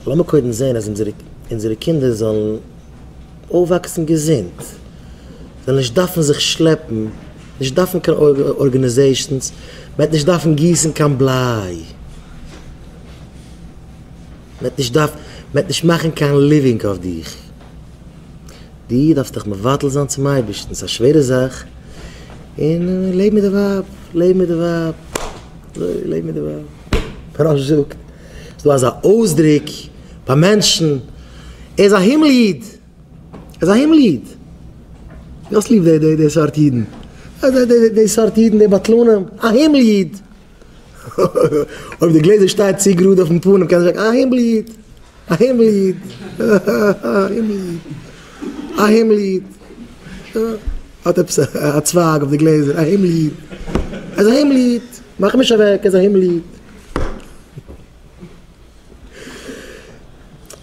לאמיר קודם זען אז אונזערע קינדער זאלן אויפוואקסן געזונט, זאלן נישט דארפן זיך שלעפן, נישט דארפן קיין ארגענעזעישאנס, מען וועט נישט דארפן גיסן קיין בליי, מען וועט נישט מאכן קיין ליווינג אויף דיך, דו דארפסט דיך מבטל זיין צום אייבערשטן, ס'איז א שווערע זאך, און לעב מיט די ווייב, לעב מיט די ווייב, לעב מיט די ווייב, פרעה זאגט, ס'דא אזא אויסדריק ביי מענטשן, ער איז א הימל איד! ער איז א הימל איד! דו האסט ליב די סארט אידן? די סארט אידן, די בטלנים, א הימל איד! אויב די גלעזער שטייט צו גראד אויפן פנים קענסטו זאגן, א הימל איד! א הימל איד! א הימל איד! האט עפעס א צווייג אויף די גלעזער, א הימל איד! ער איז א הימל איד! מאך אים נישט אוועק, ער איז א הימל איד!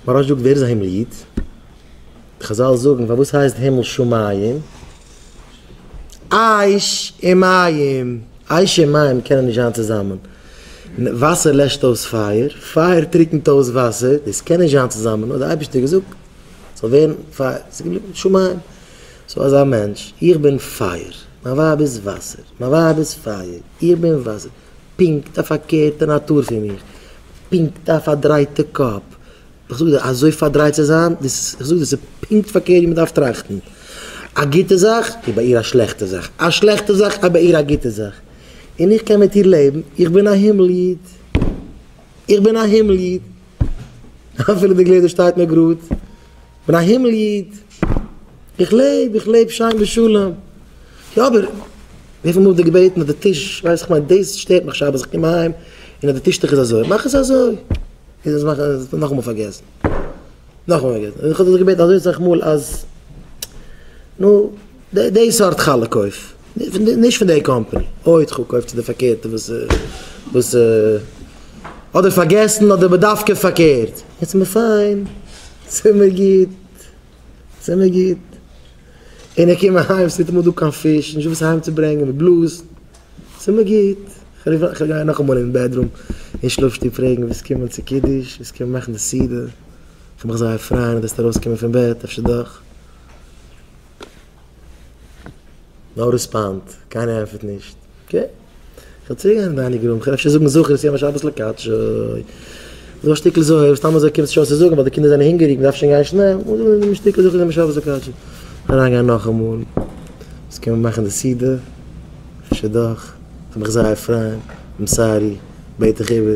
מוהרא ש זאגט ווער איז א הימל איד? חזל זאגן פארוואס הייסט הימל שמים? אש און מים, אש און מים קענען נישט זיין צוזאמען, וואסער לעשט אויס פייער, פייער טריקנט אויס וואסער, דאס קען נישט זיין צוזאמען, האט דער אייבערשטער געזאגט ס'זאל ווערן פייער, ס'איז געבליבן שמים. סאו אזא מענטש, איך בין פייער, מיין ווייב איז וואסער, מיין ווייב איז פייער, איך בין וואסער, פונקט א פארקערטע נאטור פון מיר, פונקט א פארדרייטע קאפ, איך זאג דיר, אזוי פארדרייט צו זיין, דאס איז, איך זאג דיר, ס'איז פונקט פארקערט ווי מ'דארף טראכטן, א גוטע זאך איז ביי איר א שלעכטע זאך, א שלעכטע זאך איז ביי איר א גוטע זאך, און איך קען מיט איר לעבן, איך בין א הימל איד, איך בין א הימל איד, אפילו די גלעזער שטייט נאר גראד. כ'בין א הימל איד, איך לעב, איך לעב שיין בשלום. יא אבער וויפיל מאל האט ער געבעטן אז די טיש, ווייסט איך מיין דאס שטערט מיך שבת איך קום אהיים און אז די טישטוך איז אזוי, מאך עס אזוי. איז עס מאכן עס נאכאמאל פארגעסן, נאכאמאל פארגעסן. איך האב דאס געבעטן אזוי סאך מאל אז נו די די סארט חלה קויף, נישט פון די קאמפאני, אוי ט'חו קויף צו די פארקערטע וואס וואס אדער פארגעסן אדער בדווקא פארקערט. יעצט איז מיר פיין. ס'מיר גוט, ס'מיר גוט. און איך קום אהיים, ס'איז ניטאמאל דא קיין פיש, נישט וואס אהיימצוברענגען, ווי בלאז. ס'מיר גוט. כ'רוף אן, כ'גיי נאכאמאל אין בעדרום, אין שלאף-שטוב פרעגן ווער ס'קומען צו קידוש, ווער ס'קומען מאכן די סעודה. כ'וועל מיך זייער פרייען אז דו וועסט ארויסקומען פון בעט, אפשר דאך. נאו ריספאנד, קיינער ענטפערט נישט. אקעי. כ'וועל צוריק גיין אין דיינינג רום, כ'וועל אפשר זאגן זכור את יום השבת לקדשו. זאג א שטיקל זוהר, סתם אזוי קומסטו שוין צו זאגן ווייל די קינדער זענען הונגעריג, מ'דארף שוין גיין שנעל. זאג א מין שטיקל זכור את יום השבת לקדשו. אריינגיין נאכאמאל. אונז קען מיר מאכן די סעודה? אפשר דאך. כ'וועל מיך זייער פריין. איים סארי. בעט דיך איבער.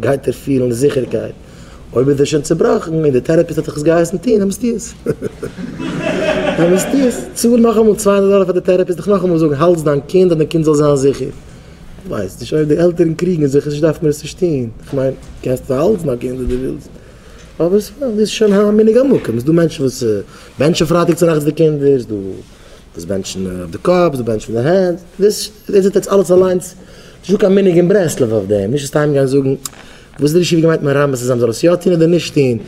גייט ער פילן זיכערקייט. אויב איז ער שוין צעבראכן און דער טעראפיסט האט זיך עס געהייסן טון, דעמאלסט טו עס. דעמאלסט טו עס. צאל נאכאמאל צוויי הונדערט דאלער פאר די טעראפיסט דיך נאכאמאל זאגן האלטס דיין קינד אז דיין קינד זאל זיין זיכער. כ'ווייס נישט אויב די עלטערן קריגן זיך נישט דארף מען עס נישט טון. כ'מיין, קענסט האלטס דיין קינד אויב דו ווילסט. אבער ס'איז שוין א מנהג המקום. ס'איז דא מענטשן וואס בענטשן פרייטאג צונאכטס די קינדער. ס'איז דא דאס בענטשן אויף די קאפ, דאס בענטשן מיט די הענט, דאס איז עטס אלעס אליינס, נישט דא קיין מנהג אין ברסלב אויף דעם, נישט סתם גיין זאגן וואס דער ישיבה געמיינט מרמז צו זיין מ'זאל עס יא טון אדער נישט טון,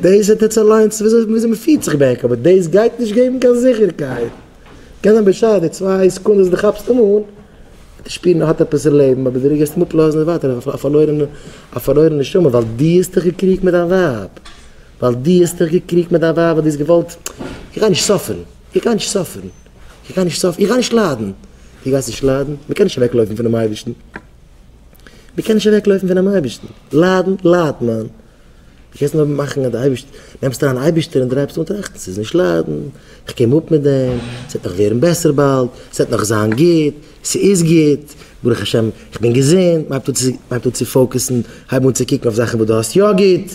דאס איז עטס אליינס וויאזוי מ'פירט זיך בעק, אבער דאס גייט נישט געבן קיין זיכערקייט, קען זיין בשעת די צוויי סעקונדעס די כאפסט אים אן וועט ער שפירן ער האט עפעס אין לעבן, אבער די רגע וועסט אים אפלאזן איז ווייטער א פארלוירענע א פארלוירענע נשמה ווייל דו האסט דיך געקריגט מיט דיין ווייב, ווייל דו האסט דיך געקריגט מיט דיין ווייב ווייל דו האסט געוואלט איך גיי נישט סאפערן. איך גיי נישט סאפערן, איך גיי נישט סאפערן, איך גיי נישט ליידן. דו גייסט נישט ליידן? מען קען נישט אוועק לויפן פונעם אייבערשטן. מען קען נישט אוועק לויפן פונעם אייבערשטן. ליידן ליידט מען. דו קענסט נאר מאכן אז די אייבערשטער, נעמסט אריין אייבערשטער און דרייבסט אן טראכטן, ס'איז נישט ליידן, איך קום אפ מיט דעם, ס'וועט נאך ווערן בעסער באלד, ס'וועט נאך זיין גוט, ס'איז גוט, ברוך השם איך בין געזונט, מען הייבט אן צו פאוקעסן, הייב אן צו קוקן אויף זאכן וואס דו האסט יא גוט.